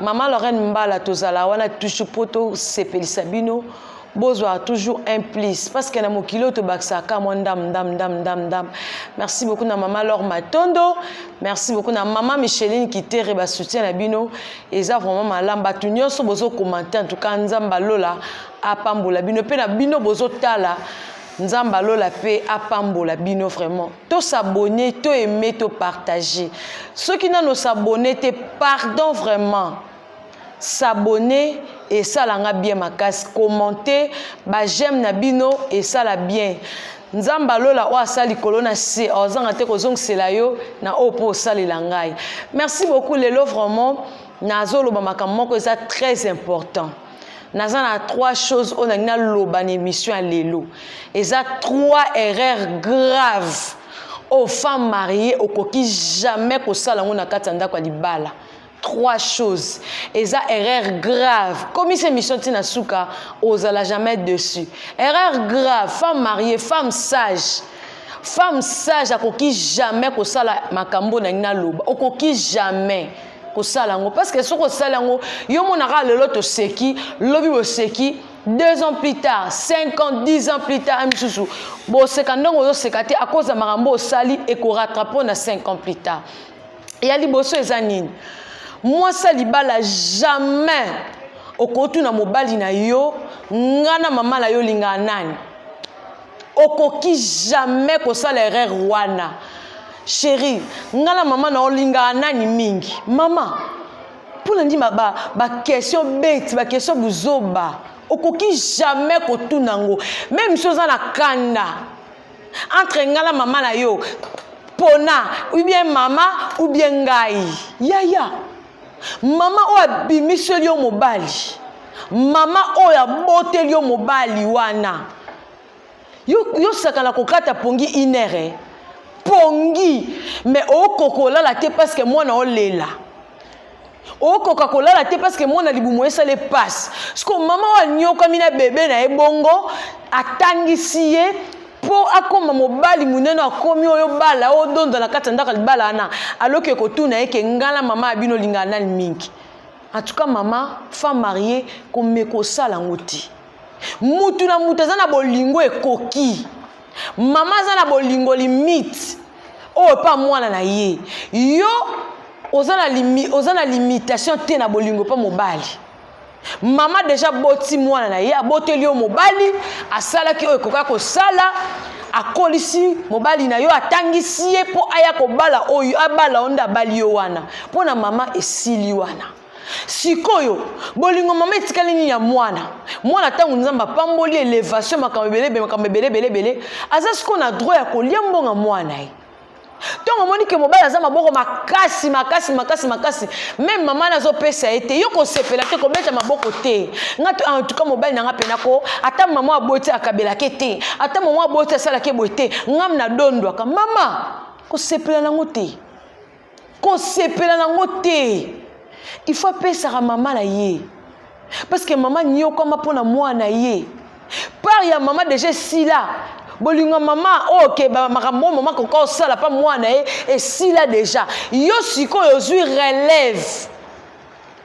Maman Lorraine Mbala tozala wana toujours po tosepelisa bino bozwa toujours un plus parce que na mokili oyo tobakisaka mwa ndam ndam ndam ndam ndam merci beaucoup na mama lor matondo merci beaucoup na mama micheline kitere basoutien na bino eza vraiment malamu bato nyonso bozokomante en tout cas nzambe alola apambola bino mpe na bino bozotala Nzambe ya lola mpe apambola bino vraiment. To s'abonner, to aimer, to partager. Soki nano s'abonner te, pardon vraiment. S'abonner esala nga bien makasi, commenter, ba j'aime na bino esala bien. nzambe alola oyo asala likolo na se ozanga te kozongisela yo na oyo mpo osalela ngai merci beaucoup lelo vraiment nazoloba makambo moko eza très important naza na trois choses oyo nalingi naloba na émission ya lelo eza trois erreur grave oyo femme marie okoki jamais kosala yango na kati ya ndako ya libala trois choses eza erreur grave komisa émission ntina suka ozala jamais dessus erreur grave femme marie femme sage femme sage akoki jamais kosala makambo na ngai naloba okoki jamais kosala yango parce que soki osali yango yo monaka lelo toseki lobi boseki deux ans plus tard cinq ans dix ans plus tard misusu boseka ndongo ozoseka te akoz ya makambo osali ekorattrape na cinq ans plus tard ya liboso eza nini mwasi ya libala jamais okotuna mobali na yo nga na mama na yo olingaka nani okoki jamais kosala erreur wana sheri nga na mama na olingaka nani mingi mama mpo na ndima baquestion ba beti baquestion buzoba okoki jamais kotuna yango meme si oza na kanda entre nga na mama na yo pona ou bien mama ou bien ngai yaya ya. mama oyo abimiseli yo mobali mama oyo aboteli yo mobali wana yosakana yo kokata pongi inere eh? pongi me okoka olala te parceke mwana olela okoka kolala te parceke mwana libumu esala epasi siko mama oyo anyokami na bebe na ye bongo atangisi ye mpo akoma mobali monene akomi oyo bala oyo donda na kati ya ndako ya libala wana aloki ekotuna ye ke ngala mama ya bino olingaka nani mingi en tout cas mama femme marie komeka osala yango te mutu na mutu aza na bolingo ekoki mama aza na bolingo limite oyo epa mwana na ye yo oza na, limi, oza na limitation te na bolingo mpo mobali mama deja boti mwana na ye aboteli yo mobali asalaki oyo ekoka kosala akolisi mobali na yo atangisi ye mpo aya kobala oyo abala oyo nde abali yo wana mpo na mama esili wana sikoyo bolingo mama etikali nini ya mwana mwana ntango nzambe apamboli elevation makambo ebelebe makambo ebelebelebele aza sikoyo na droit ya kolia mbonga mwana ye ntongo omoni ke mobali aza maboko makasi makasi makasi makasi meme mama na azopesa ye te yo kosepela te kobeta maboko te nga to en tout cas mobali na nga mpena ko ata mama aboti akabelake te ata mama aboti asalake boye te ngam na dondwaka mama kosepela nango te kosepela nango te il faut apesaka mama na ye parce que mama niokama mpo na mwana na ye part ya mama deja esila bolingo ya mama oyo oh, ke makambo oyo mama koka osala mpa mwana na ye esila deja yo sikoyo ozwi relève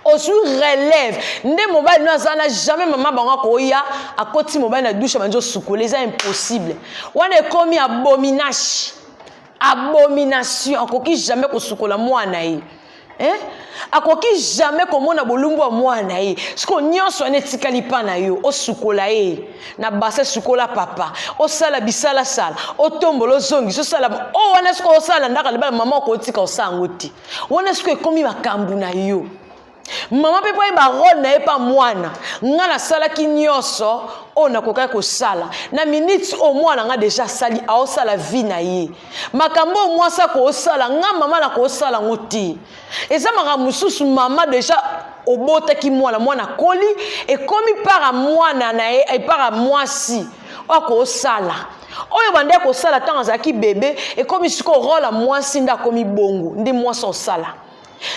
ozwi relève nde mobali no aza na jamais mama bango akoya akoti mobali na dushe banzi osukole eza impossible wana ekomi abominage abomination akoki jamais kosukola mwana ye eh? akoki jamais komona bolumbu ya mwana ye siko nyonso wana etikali mpa na yo osukola ye na base sukola papa osala bisalasala otombola ozongisa osala o oh, wana siko osala ndaka libala mama okotika osala yango te wana siko ekomi makambo na yo mama mpe mpo ayeba role na ye mpa mwana ngai nasalaki nyonso oyo nakokaki kosala na miniti oyo mwana ngai deja asali aosala vi na ye makambo oyo mwasi akoosala ngai mama nakoosala yango te eza makambo mosusu mama deja obotaki mwana mwana akoli ekomi mpaka mwana na ye mpaka mwasi oyo akoosala oyo bande akosala ntango azalaki bebe ekomi sikoyo role ya mwasi nde akomi bongo nde mwasi osala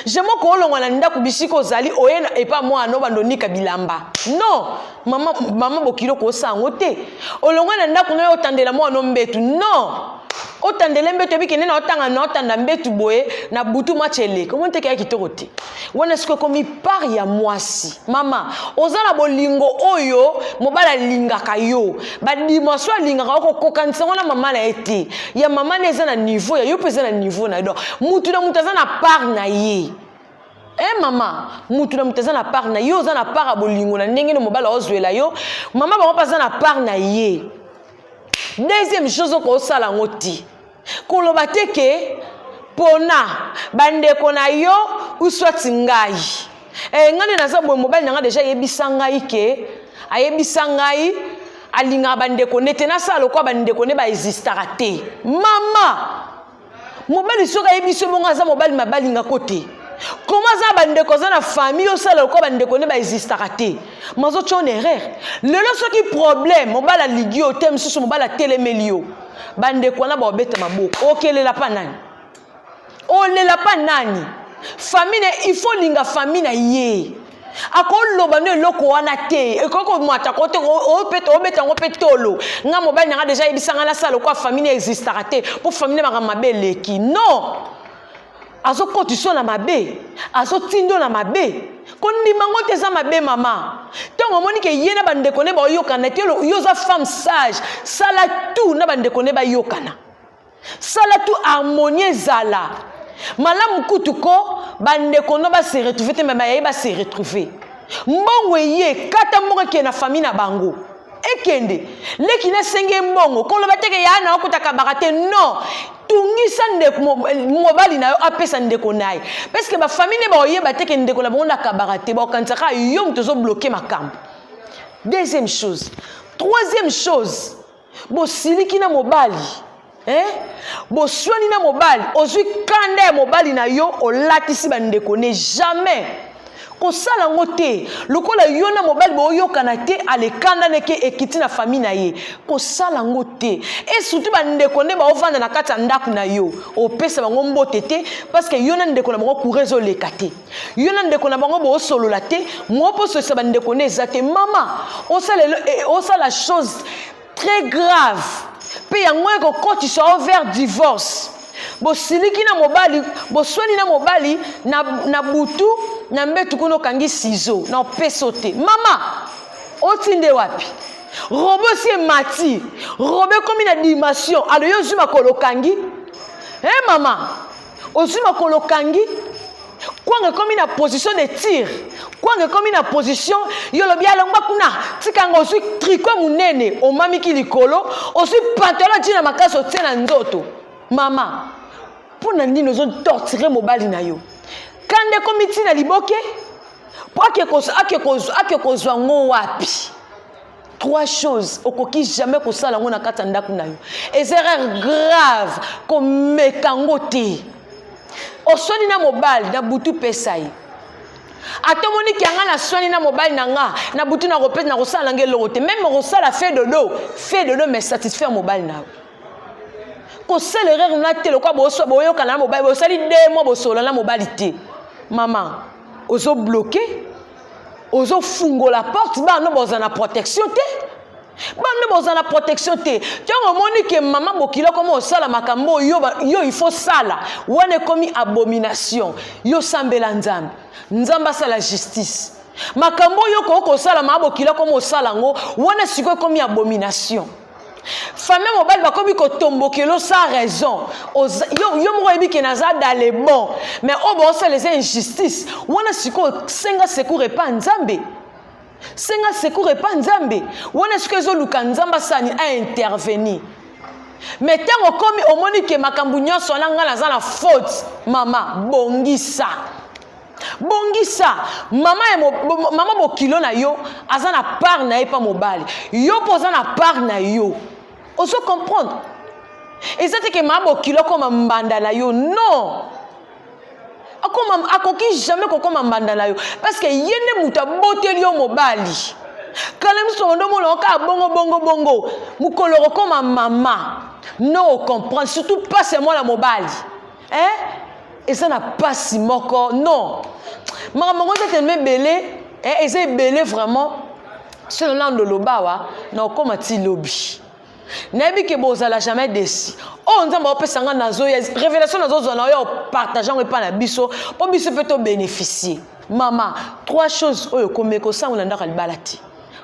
jemo koolongwa na ndako bisika ozali oye na epa mwana no bando onika bilamba non mama, mama bokilo kosa yango te olongwa na ndako nayo otandela mwana mbetu non otandele mbetu ebikende na otanga na otanda mbetu boye na butu match eleka omoni teke ya kitoko te wana soki ekomi part ya mwasi mama oza na bolingo oyo mobali alingaka yo badimension alingaka yo kokokanisa yango na mama na ye te ya mama na eza na niveau ya yo mpe eza na niveau na ye donc motu na motu aza na part na ye e eh, mama motu na motu aza na part na ye oza na part ya bolingo na ndenge no mobali aozwela yo mama bango mpe aza na part na ye deuxième chose okosala yango te koloba te ke pona bandeko na yo uswati ngai e, ngai nde naza boye mobali na ngai deja ayebisa ngai ke ayebisa ngai alingaka bandeko nde te nasala lokola bandeko nde baexistaka te mama mobali soki ayebisi yo bongo aza mobali mabalingako te koma aza bandeko aza na famille osala lokola bandeko nde baexistaka te mazotya on erreur lelo soki problème mobali aligi yo te mosusu mobali atelemeli yo bandeko wana baobeta maboko okelela pa nani olela pa nani famille il faut linga famille na ye akoloba no eloko wana te ekoki komata ko te obeta yango mpe tolo nga mobali nanga deja ayebisa nga nasala lokola famille na existaka te mpo famille makambo mabe eleki non azokotisa yo na mabe azotinda yo na mabe kondima yango te eza mabe mama ntango omoni ke ye na bandeko ne baoyokana te yo oza femme sage sala tout na bandeko ne bayokana sala tout harmonie ezala malamu kutu ko bandeko no base retrouve te me bayaye base retrouve mbongo eye kata mbongo ekee na famille na bango ekende leki nasengi ye mbongo koloba teke yaa na okota kabaka te non tungisa ndeko mobali na yo apesa ndeko na ye parceke bafamili nde bakoyeba teke ndeko na bango nakabaka te bakokanisa kaka yo moto ozobloke makambo deuxième chose troisième chose bosiliki na mobali eh? boswani na mobali ozwi kanda ya mobali na yo olatisi bandeko ne jamais kosala yango te lokola yo na mobali boyokana te alekanda ndeke ekiti na fami na ye kosala yango te e surtout bandeko nde baofanda na kati ya ndako na yo opesa bango mbote te parceke yo na ndeko na bango kura ezoleka te yo na ndeko na bango boosolola te mwa mpo osolisa bandeko nde eza te mama osala e, e, chose très grave mpe yango ekokotisa yo vers divorce bosiliki na mobali boswani na mobali na, na butu na mbetu kuna okangi sizo na opeso te mama otinde wapi robo esi emati robo ekomi na dimension alo yo ozwi makolo okangi e hey, mama ozwi makolo okangi kwanga ekomi na position de tir kwanga ekomi na position yo olobi alongwa kuna tika yango ozwi triko monene omamiki likolo ozwi pantalo ati na makasi otie na nzoto mama mpo na nini ozotortire mobali na yo kanda ekomi ntina liboke mpo ake kozwa ngo wapi trois choses okoki jamais kosala yango na kati ya ndako na yo eza erreur grave komeka yango te oswani na mobali na butu pesa ye ata omoni kianga naswani na mobali na nga na butu na kopesa na kosala nanga eloko te meme okosala fe dodo fe dodo mais satisfaire mobali na yo kosala erreur na te lokola boswa boyokana na mobali bosali de mwa bosola na mobali te mama ozobloke ozo fungola porte bana boza na protection te bana boza na protection te ntango omoni ke mama bokila okoma osala makambo oyo yo il faut sala wana ekomi abomination yo sambela nzambe nzambe asala justice makambo oyo okoki kosala mama bokila okoma osala yango wana sikoyo ekomi abomination famille mobali bakomi kotombokelo sans raison yo, yo moko oyebi ke naza dans le bon mais oyo oh, baosala eza injustice wana sikoyo senga secour epa nzambe senga secour epa nzambe wana sikoyo ezoluka nzambe asani aintervenir mais ntango okomi omoni ke makambo nyonso wana ngai naza na faute mama bongisa bongisa mama ya mo, bo, mama bokilo na yo aza na part na ye mpa mobali yo mpo oza na part na yo ozo comprendre eza te ke mama bokilo akoma mbanda na yo non akoma akoki jamais kokoma mbanda na yo parce que ye nde moto aboteli yo mobali kala miso ondo omona okaa bongo bongo bongo mokolo okokoma mama no okomprendre surtout mpasi ya mwana mobali eh eza na pasi moko non makambo yango eza telema ebele eh, eza ebele vraiment soki nolando lobawa na okoma ti lobi nayebi ke bozala jamais desi oyo oh, nzambe aopesa ngai nazo révélation nazozwa na oyo opartage yango epai na biso mpo biso mpe tobénéficie mama trois choses oyo komeka osango na ndako ya libala te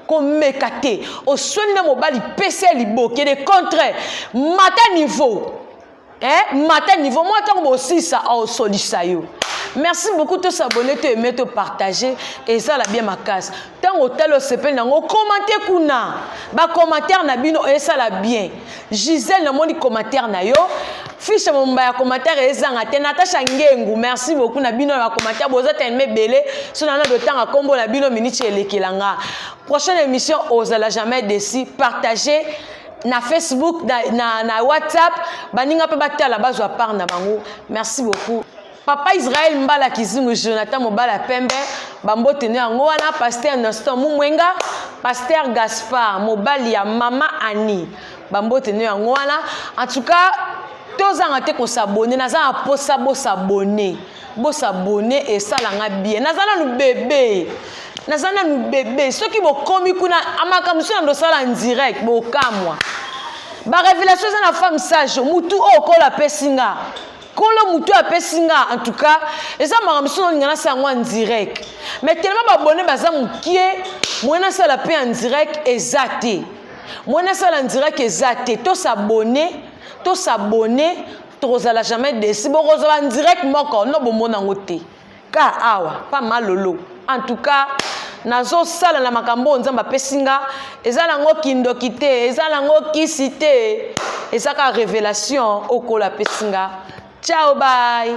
komeka te oswani na mobali pesa ya liboke de contre mata niveau eh, mata niveau mwa ntango bosisa aosolisa yo merci beaucoup to s'abonner to aimer to partager ezala bien makasi ntango otali osepeli nango komante kuna bacommentaire na bino esala bien gisele namoni commentaire na yo fishe momba ya commentaire ezanga te natasha ngengu merci beaucoup na bino na bacommentaire boza telema ebele so nana dotanga nkombo na bino miniti elekela nga prochaine émission ozala jamais desi partager na facebook na, na, na whatsapp baninga mpe batala bazwa part na bango merci beaucoup papa israel mbala kizingu jonathan mobala pembe bambote no yango wana paster noston mumwenga paster gaspard mobali ya mama ani bambote no yango wana en tout cas tozanga te kosabone naza na mposa bosabone Bo s'abonner et ça langa bien. Nazana nous bébé. Nazana nous bébé. Ceux qui vont komi kuna amaka musona ndo sala en direct bo kamwa. Ba révélation za na femme sage mutu o kola pesinga. Kolo mutu a pesinga en tout cas eza mara musona ngana sa en direct. Mais tellement ba abonner baza mukie. Moi na sala pe en direct ezate. Moi na sala en direct ezate. To s'abonner, to s'abonner tokozala jamais desi bokozala direct moko no bomona yango te ka awa pa malolo en tout cas nazosala na makambo oyo nzambe apesi nga eza nango kindoki te eza nango kisi te eza kaka révélation okola apesi nga ciao bye